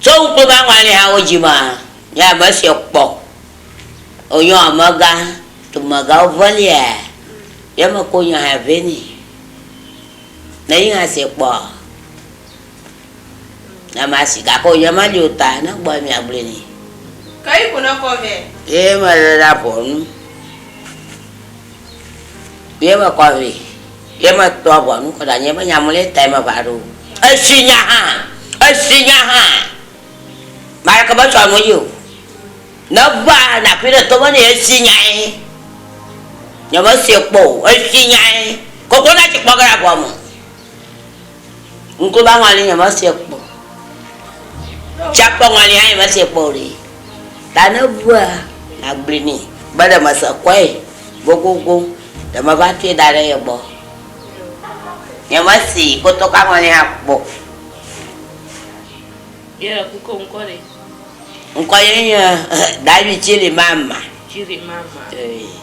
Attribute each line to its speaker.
Speaker 1: Tsɔ ŋukpe va ŋɔalihawo dzi ma nye ame si kpɔ wonyɔ amegã dumegãwo ʋelia ye me ko nya hã vɛ ni ne yi hã se kpɔ nye ma si gake wonye ma li o ta ne gbɔ ye mia gblɔe ni. Ke yi ko ne kɔ vɛ. Ye me le ɖa ƒɔnu ye me kɔ vɛ. Ye mekpɔ ʋɔnu kɔ ɖe anyi be nya mlɔe tae meʋã ɖo o. Esi nya hã, esi nya hã, ame aɖeke metsɔ nu ye o. Ne ʋã naƒi ɖe tome nɛ, esi nyae. Nyemesee kpɔ o, esi nyae. Koklo na tsi kpɔ ge ɖe aʋɔ me. Ŋku ƒe aŋɔli nyemeva sue kpɔ o. Tsia ƒe aŋɔli hã nyemeva sue kpɔ o ɖe. Ta ne eʋua, nàgblɔe nɛ be ɖe mese kɔe gogogo, ɖe meva tsɔe da ɖe ye gbɔ. Nyemese kpɔtɔ ƒe aŋɔli hã kpɔ o. Ŋkɔ ye nye David Tchirimama. Tchirimama. Ee.